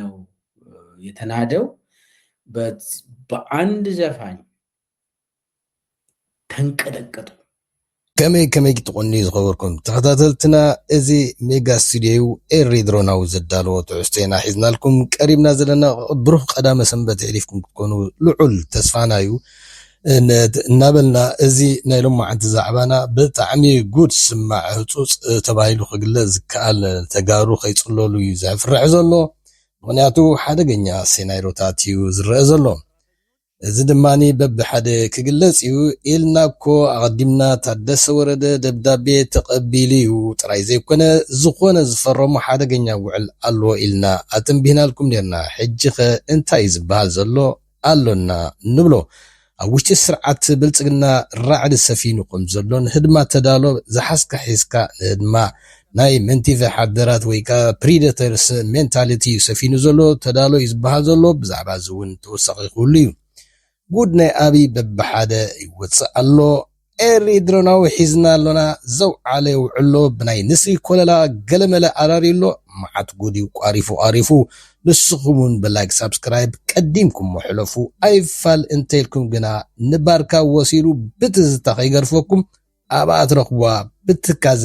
ነው የተናደው በአንድ ዘፋኝ ተንቀጠቀጡ። ከመይ ከመይ ክትቆንዩ ዝኸበርኩም ተኸታተልትና እዚ ሜጋ ስቱድዮ እዩ ኤሪ ድሮናዊ ዘዳለዎ ትሕዝቶ ኢና ሒዝናልኩም ቀሪብና ዘለና ብሩኽ ቀዳመ ሰንበት የሕሊፍኩም ክትኮኑ ልዑል ተስፋና እዩ እናበልና እዚ ናይ ሎማዓንቲ ዛዕባና ብጣዕሚ ጉድ ስማዕ ህፁፅ ተባሂሉ ክግለፅ ዝከኣል ተጋሩ ከይፅለሉ እዩ ዘፍርሕ ዘሎ ምኽንያቱ ሓደገኛ ሴናይሮታት እዩ ዝረኣ ዘሎ እዚ ድማ በብሓደ ክግለፅ እዩ ኢልና እኮ ኣቐዲምና ታደሰ ወረደ ደብዳቤ ተቐቢሉ እዩ ጥራይ ዘይኮነ ዝኾነ ዝፈረሞ ሓደገኛ ውዕል ኣሎ ኢልና ኣተንቢህናልኩም ኔርና ሕጂኸ እንታይ እዩ ዝበሃል ዘሎ ኣሎና ንብሎ ኣብ ውሽጢ ስርዓት ብልጽግና ራዕዲ ሰፊኑ ከም ዘሎ ንህድማ ተዳሎ ዝሓዝካ ሒዝካ ንህድማ ናይ መንቲፈ ሓደራት ወይ ከኣ ፕሪደተርስ ሜንታሊቲ እዩ ሰፊኑ ዘሎ ተዳሎ እዩ ዝበሃል ዘሎ ብዛዕባ እዚ ውን ተወሳኺ ክህሉ እዩ ጉድ ናይ ኣብይ በብሓደ ይወጽእ ኣሎ ኤሪ ድሮናዊ ሒዝና ኣሎና ዘው ዓለ ውዕሎ ብናይ ንስሪ ኮለላ ገለመለ ኣራርዩ ኣሎ ማዓት ጉድ እዩ ቋሪፉ ቃሪፉ ንስኩም ውን ብላይክ ሳብስክራይብ ቀዲምኩሞ ሕለፉ ኣይፋል እንተኢልኩም ግና ንባርካ ወሲዱ ብትዝታ ከይገርፈኩም ኣብኣ ትረክብዋ ብትካዘ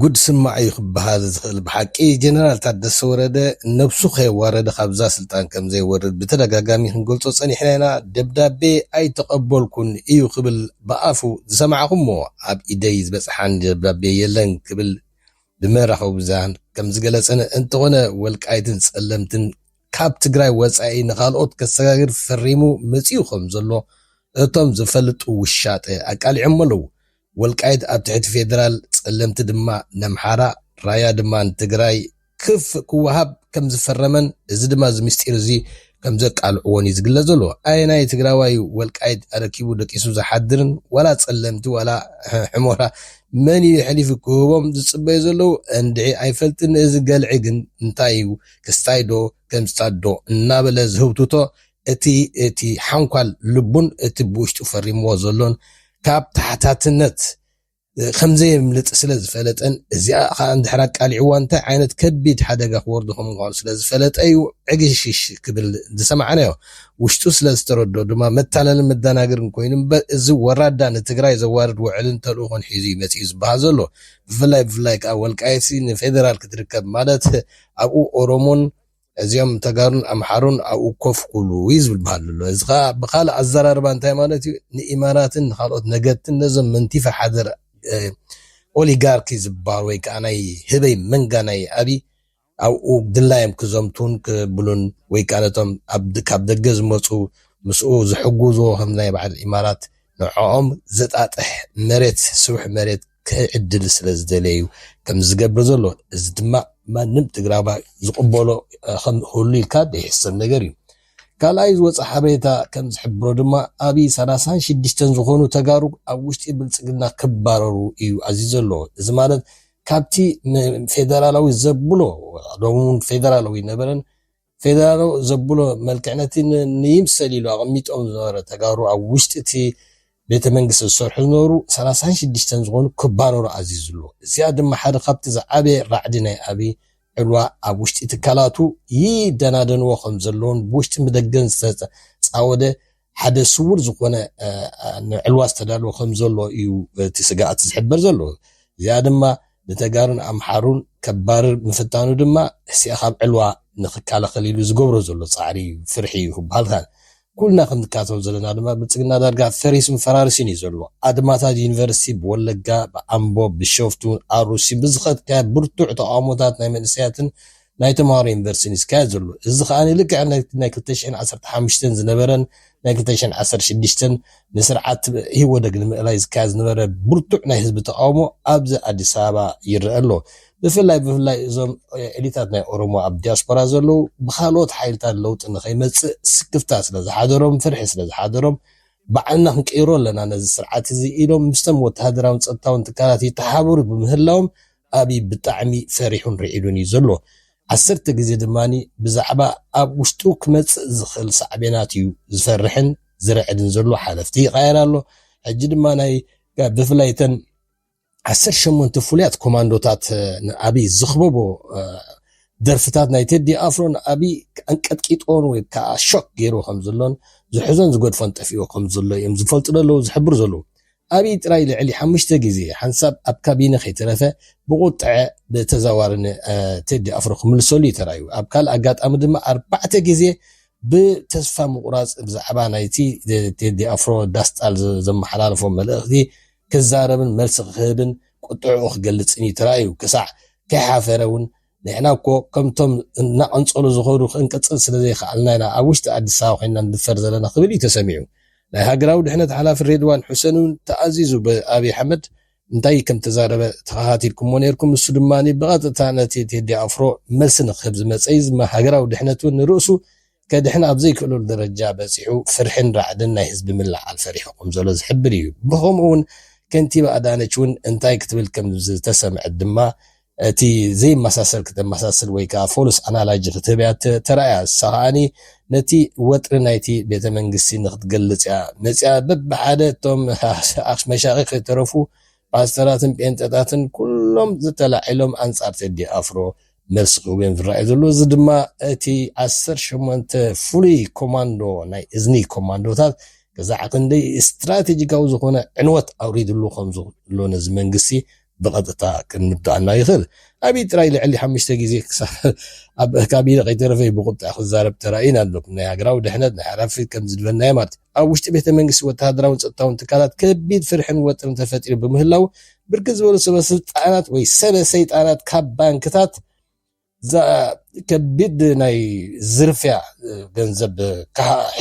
ጉድ ስማዕ እዩ ክበሃል ዝኽእል ብሓቂ ጀነራል ታደሰ ወረደ ነብሱ ከየዋረደ ካብዛ ስልጣን ከምዘይወርድ ብተደጋጋሚ ክንገልፆ ፀኒሕና ኢና ደብዳቤ ኣይተቐበልኩን እዩ ክብል ብኣፉ ዝሰማዕኹሞ ኣብ ኢደይ ዝበጽሓኒ ደብዳቤ የለን ክብል ብመራኸቢ ብዙሃን ከም ዝገለጸን እንተኾነ ወልቃይትን ጸለምትን ካብ ትግራይ ወጻኢ ንኻልኦት ከሰጋግር ፈሪሙ መጺኡ ከም ዘሎ እቶም ዝፈልጡ ውሻጠ ኣቃሊዖሞ ኣለው። ወልቃይት ኣብ ትሕቲ ፌደራል፣ ጸለምቲ ድማ ነምሓራ፣ ራያ ድማ ንትግራይ ክፍ ክወሃብ ከም ዝፈረመን እዚ ድማ እዚ ምስጢር እዚ ከም ዘቃልዕዎን እዩ ዝግለጽ ዘሎ። ኣየናይ ትግራዋይ እዩ ወልቃይት ኣረኪቡ ደቂሱ ዝሓድርን ዋላ ጸለምቲ ዋላ ሕሞራ መን እዩ የሕሊፉ ክህቦም ዝጽበዩ ዘለዉ እንድዒ ኣይፈልጥን እዚ ገልዒ ግን እንታይ እዩ ክስታይ ዶ ገምጽታት ዶ እናበለ ዝህውትቶ እቲ እቲ ሓንኳል ልቡን እቲ ብውሽጡ ፈሪምዎ ዘሎን ካብ ታሕታትነት ከምዘየምልጥ ስለ ዝፈለጠን እዚኣ ኸኣ እንድሕር ኣቃሊዕዋ እንታይ ዓይነት ከቢድ ሓደጋ ክወርዶ ከም ምዃኑ ስለ ዝፈለጠ'ዩ ዕግሽሽ ክብል ዝሰማዕናዮ። ውሽጡ ስለ ዝተረድኦ ድማ መታለልን መደናገርን ኮይኑ እምበር እዚ ወራዳ ንትግራይ ዘዋርድ ውዕልን ተልእኾን ሒዙ'ዩ መጺኡ ዝበሃል ዘሎ። ብፍላይ ብፍላይ ከኣ ወልቃይትሲ ንፌደራል ክትርከብ ማለት ኣብኡ ኦሮሞን እዚኦም ተጋሩን ኣምሓሩን ኣብኡ ኮፍ ክብሉ እዩ ዝብል ባህሊ ኣሎ። እዚ ከኣ ብኻልእ ኣዘራርባ እንታይ ማለት እዩ ንኢማራትን ንኻልኦት ነገድትን ነዞም መንቲፈ ሓደር ኦሊጋርኪ ዝበሃሉ ወይ ከዓ ናይ ህበይ መንጋ ናይ ኣብይ ኣብኡ ድላዮም ክዘምቱን ክብሉን ወይ ከዓ ነቶም ካብ ደገ ዝመፁ ምስኡ ዝሕግዝዎ ከም ናይ በዓል ኢማራት ንዕኦም ዘጣጥሕ መሬት ስቡሕ መሬት ክዕድል ስለ ዝደለየ እዩ ከምዚ ዝገብር ዘሎ። እዚ ድማ ማንም ትግራዋይ ዝቕበሎ ክህሉ ኢልካ ዘይሕሰብ ነገር እዩ። ካልኣይ ዝወፀ ሓበሬታ ከም ዝሕብሮ ድማ ኣብይ ሰላሳን ሽዱሽተን ዝኾኑ ተጋሩ ኣብ ውሽጢ ብልፅግና ክባረሩ እዩ ኣዚዙ ዘሎ። እዚ ማለት ካብቲ ፌደራላዊ ዘብሎ ሎሚ እውን ፌደራላዊ ነበረን ፌደራሎ ዘብሎ መልክዕ ነቲ ንይምሰል ኢሉ ኣቐሚጦም ዝነበረ ተጋሩ ኣብ ውሽጢ እቲ ቤተ መንግስቲ ዝሰርሑ ዝነበሩ ሰላሳን ሽዱሽተን ዝኾኑ ክባረሩ ኣዚዙ ኣሎ። እዚኣ ድማ ሓደ ካብቲ ዝዓበየ ራዕዲ ናይ ኣብይ ዕልዋ ኣብ ውሽጢ ትካላቱ ይደናደንዎ ከምዘለዉን ብውሽጥን ብደገን ዝተጻወደ ሓደ ስዉር ዝኾነ ንዕልዋ ዝተዳለወ ከም ዘሎ እዩ እቲ ስግኣት ዝሕበር ዘሎ። እዚኣ ድማ ንተጋሩን ኣምሓሩን ከባርር ምፍታኑ ድማ ህስኤ ካብ ዕልዋ ንክካላኸል ኢሉ ዝገብሮ ዘሎ ፃዕሪ እዩ፣ ፍርሒ እዩ ክበሃል ካን። ኩልና ከምንካተሎ ዘለና ድማ ብልፅግና ዳርጋ ፈሪሱን ፈራሪሱን እዩ ዘሎ። ኣድማታት ዩኒቨርስቲ ብወለጋ፣ ብኣምቦ፣ ብቢሸፍቱ፣ ኣሩሲን ብዝኸድካዮ ብርቱዕ ተቓውሞታት ናይ መንእሰያትን፣ ናይ ተመሃሮ ዩኒቨርሲቲን እዩ ዝካየድ ዘሎ። እዚ ከኣ ልክዕ ናይ ክልተ ሽሕን ዓሰርተ ሓሙሽተን ዝነበረን ናይ ክልተ ሽሕን ዓሰርተ ሽዱሽተን ንስርዓት ኢህወደግ ንምእላይ ዝካየድ ዝነበረ ብርቱዕ ናይ ህዝቢ ተቓውሞ ኣብዚ ኣዲስ ኣበባ ይረአ ኣሎ። ብፍላይ ብፍላይ እዞም ኤሊታት ናይ ኦሮሞ ኣብ ዲያስፖራ ዘለዉ ብካልኦት ሓይልታት ለውጢ ንኸይመጽእ ስክፍታ ስለ ዝሓደሮም ፍርሒ ስለ ዝሓደሮም ባዕልና ክንቅይሮ ኣለና ነዚ ስርዓት እዚ ኢሎም ምስቶም ወተሃደራውን ጸጥታውን ትካላት ይተሓባበሩ ብምህላዎም ኣብይ ብጣዕሚ ፈሪሑን ርዒዱን እዩ ዘሎ። ዓሰርተ ግዜ ድማ ብዛዕባ ኣብ ውሽጡ ክመፅእ ዝኽእል ሳዕቤናት እዩ ዝፈርሕን ዝርዕድን ዘሎ። ሓለፍቲ ይቓየር ኣሎ። ሕጂ ድማ ናይ ብፍላይ እተን ዓሰርተ ሸሞንተ ፍሉያት ኮማንዶታት ንኣብይ ዝኽበቦ ደርፍታት ናይ ቴዲ ኣፍሮ ንኣብይ ኣንቀጥቂጦን ወይ ከዓ ሾክ ገይሩ ከም ዘሎን ዝሕዞን ዝገድፎን ጠፊኦ ከም ዘሎ እዮም ዝፈልጡ ዘለዉ ዝሕብሩ ዘለዉ። ኣብይ ጥራይ ልዕሊ ሓሙሽተ ግዜ ሓንሳብ ኣብ ካቢነ ከይተረፈ ብቁጥዐ ብተዘዋዋሪ ን ቴዲ ኣፍሮ ክምልሰሉ እዩ ተራእዩ። ኣብ ካልእ ኣጋጣሚ ድማ ኣርባዕተ ግዜ ብተስፋ ምቁራጽ ብዛዕባ ናይቲ ቴዲ ኣፍሮ ዳስጣል ዘመሓላለፎ መልእኽቲ ክዛረብን መልሲ ክህብን ቁጥዐኡ ክገልጽን እዩ ተራእዩ። ክሳዕ ከይሓፈረ ውን ንሕና እኮ ከምቶም እናቐንጸሉ ዝኸዱ ክንቅጽል ስለ ዘይከኣልና ኢና ኣብ ውሽጢ ኣዲስ ኣበባ ኮይንና ንድፈር ዘለና ክብል እዩ ተሰሚዑ። ናይ ሃገራዊ ድሕነት ሓላፊ ሬድዋን ሑሴን'ውን ተኣዚዙ ብኣብይ ኣሕመድ እንታይ ከም እተዛረበ ተኸታቲልኩሞ ኔርኩም፣ ንሱ ድማ ብቐጥታ ነቲ ቴዲ ኣፍሮ መልሲ ንክህብ ዝመጸ'ዩ ዝም ሃገራዊ ድሕነት'ውን ንርእሱ ከድሕን ኣብ ዘይክእለሉ ደረጃ በጺሑ ፍርሕን ራዕድን ናይ ህዝቢ ምልዕዓል ፈሪሑ ከም ዘሎ ዝሕብር እዩ። ብኸምኡ'ውን ከንቲባ ኣዳነች'ውን እንታይ ክትብል ከም ዝተሰምዐት ድማ እቲ ዘይመሳሰል ክተመሳስል ወይ ከኣ ፎልስ ኣናላጂ ክትህብ እያ ተራእያ፣ ንሳ ከኣ ነቲ ወጥሪ ናይቲ ቤተ መንግስቲ ንክትገልጽ እያ መጺኣ፣ በብሓደ እቶም መሻኺኽ ከይተረፉ ፓስተራትን ጴንጠታትን ኩሎም ተላዒሎም ኣንጻር ቴዲ ኣፍሮ መልሲ ክህቡ እዮም ዝረኣዩ ዘለዉ፣ እዚ ድማ እቲ ዓሰርተ ሸሞንተ ፍሉይ ኮማንዶ ናይ እዝኒ ኮማንዶታት ክሳዕ ክንደይ ስትራቴጂካዊ ዝኾነ ዕንወት ኣውሪድሉ ከምዘሎ ነዚ መንግስቲ ብቐጥታ ክንምጥኣና ይኽእል። ኣቢይ ጥራይ ልዕሊ ሓሙሽተ ግዜ ክሳብ ኣብ ካቢነ ከይተረፈ'ዩ ብቑጥዐ ክዛረብ ተራእዩና ኣሎ። ናይ ሃገራዊ ድሕነት፣ ናይ ሓላፍነት ከም ዝድለና'ዩ ማለት። ኣብ ውሽጢ ቤተ መንግስቲ ወተሃደራውን ጸጥታውን ትካላት ከቢድ ፍርሕን ወጥርን ተፈጢሩ ብምህላዉ ብርክት ዝበሉ ሰበ ስልጣናት ወይ ሰበ ሰይጣናት ካብ ባንክታት እዛ ከቢድ ናይ ዝርፍያ ገንዘብ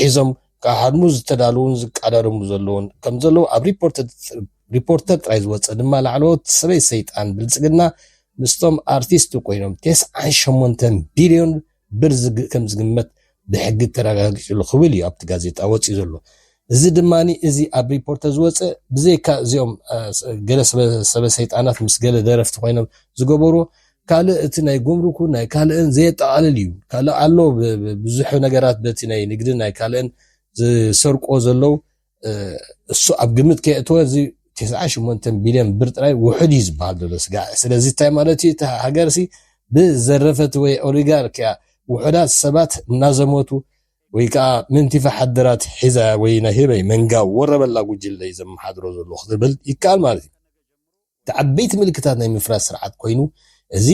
ሒዞም ክሃድሙ ዝተዳለዉን ዝቃዳደሙ ዘለዉን ከም ዘለዉ ኣብ ሪፖርተር ጥራይ ዝወፀ ድማ ላዕለዎት ሰበይ ሰይጣን ብልፅግና ምስቶም ኣርቲስት ኮይኖም ቴስዓን ሸሞንተን ቢልዮን ብር ከም ዝግመት ብሕጊ ተረጋጊጹ ኣሎ ክብል እዩ ኣብቲ ጋዜጣ ወጺኡ ዘሎ። እዚ ድማ እዚ ኣብ ሪፖርተር ዝወጸ ብዘይካ እዚኦም ገለ ሰበ ሰይጣናት ምስ ገለ ደረፍቲ ኮይኖም ዝገበሩ ካልእ እቲ ናይ ጉምሩኩ ናይ ካልእን ዘየጠቓልል እዩ። ካልእ ኣሎ ብዙሕ ነገራት በቲ ናይ ንግድን ናይ ካልእን ዝሰርቁዎ ዘለዉ እሱ ኣብ ግምት ከየእተወ እዚ ትስዓን ሽሞንተን ቢልዮን ብር ጥራይ ውሑድ እዩ ዝበሃል ዘሎ ስጋዕ። ስለዚ እንታይ ማለት እዩ? እታ ሃገርሲ ብዘረፈት ወይ ኦሊጋርኪያ ውሑዳት ሰባት እናዘመቱ ወይ ከኣ ምእንቲ ፈሓድራት ሒዛ ወይ ናይ ህበይ መንጋ ወረበላ ጉጅለ እዩ ዘመሓድሮ ዘሎ ክትብል ይከኣል ማለት እዩ። እቲ ዓበይቲ ምልክታት ናይ ምፍራስ ስርዓት ኮይኑ እዚ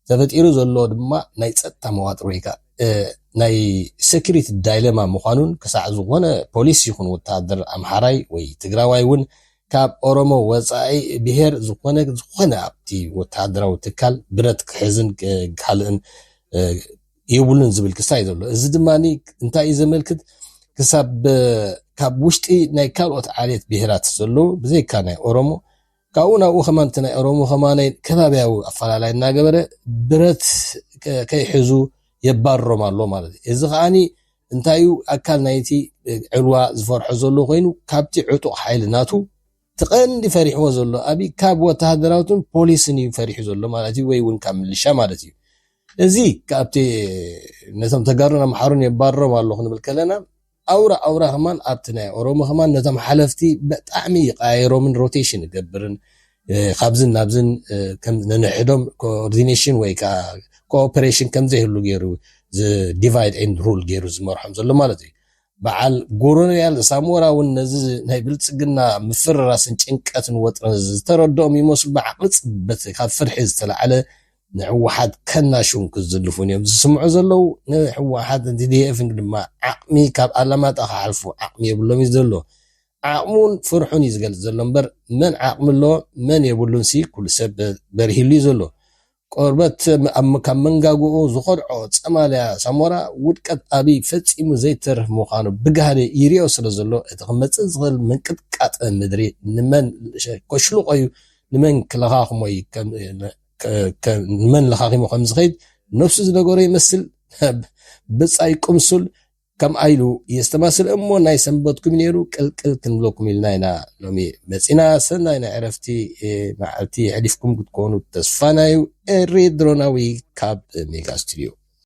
ተፈጢሩ ዘሎ ድማ ናይ ጸጥታ መዋጥር ወይ ከኣ ናይ ሰኩሪቲ ዳይለማ ምዃኑን ክሳዕ ዝኾነ ፖሊስ ይኹን ወተሃደር ኣምሓራይ ወይ ትግራዋይ ውን ካብ ኦሮሞ ወጻኢ ብሄር ዝኾነ ዝኾነ ኣብቲ ወተሃደራዊ ትካል ብረት ክሕዝን ካልእን የብሉን ዝብል ክሳይ ዘሎ እዚ ድማ እንታይ እዩ ዘመልክት ክሳብ ካብ ውሽጢ ናይ ካልኦት ዓሌት ብሄራት ዘለዉ ብዘይካ ናይ ኦሮሞ ካብኡ ናብኡ ከማ እቲ ናይ ኦሮሞ ከማ ከባብያዊ ኣፈላላይ እናገበረ ብረት ከይሕዙ የባርሮም ኣሎ ማለት እዩ እዚ ከዓኒ እንታይ እዩ ኣካል ናይቲ ዕልዋ ዝፈርሖ ዘሎ ኮይኑ ካብቲ ዕጡቕ ሓይሊ ናቱ ትቐንዲ ፈሪሕዎ ዘሎ ኣብይ ካብ ወተሃደራዊትን ፖሊስን እዩ ፈሪሑ ዘሎ ማለት እዩ ወይ እውን ካብ ምልሻ ማለት እዩ እዚ ካብቲ ነቶም ተጋሩን ኣምሓሩን የባርሮም ኣሎ ክንብል ከለና ኣውራ ኣውራ ከማን ኣብቲ ናይ ኦሮሞ ከማን ነቶም ሓለፍቲ በጣዕሚ ይቀያይሮምን ሮቴሽን ይገብርን ካብዝን ናብዝን ከም ነንሕዶም ኮኦርዲኔሽን ወይ ከኣ ኮኦፐሬሽን ከም ዘይህሉ ገይሩ ዲቫይድ ኤንድ ሩል ገይሩ ዝመርሖም ዘሎ ማለት እዩ። በዓል ጎሮንያል ሳሞራ እውን ነዚ ናይ ብልጽግና ምፍርራስን ጭንቀትን ወጥረን ዝተረድኦም ይመስሉ ብዓቕሊ ጽበት ካብ ፍርሒ ዝተላዕለ ንሕወሓት ከናሽው ክዝልፉን እዮም ዝስምዑ ዘለው። ንሕወሓትን ቲዲኤፍን ድማ ዓቕሚ ካብ ኣላማጣ ክሓልፉ ዓቕሚ የብሎም እዩ ዘሎ። ዓቕሙን ፍርሑን እዩ ዝገልፅ ዘሎ እምበር መን ዓቕሚ ኣለዎ መን የብሉንሲ ኩሉ ሰብ በሪህሉ እዩ ዘሎ። ቆርበት ካብ መንጋግኡ ዝኾድዖ ፀማልያ ሳሞራ ውድቀት ኣብይ ፈፂሙ ዘይተርፍ ምዃኑ ብጋህዲ ይሪኦ ስለ ዘሎ እቲ ክመፅእ ዝኽእል ምንቅጥቃጥ ምድሪ ንመን ከሽልቆ እዩ ንመን ክለኻኽሞ እዩ ከም ንመን ለኻኺሙ ከም ዝኸይድ ነፍሱ ዝነገሮ ይመስል ብጻይ ቅምሱል ከምኣ ኢሉ የስተማስል እሞ ናይ ሰንበትኩም ነይሩ ቅልቅል ክንብለኩም ኢልና ኢና ሎሚ መፂና ሰናይ ናይ ዕረፍቲ መዓልቲ የሕሊፍኩም ክትኮኑ ተስፋና እዩ ኤሪ ድሮናዊ ካብ ሜጋ ስቱድዮ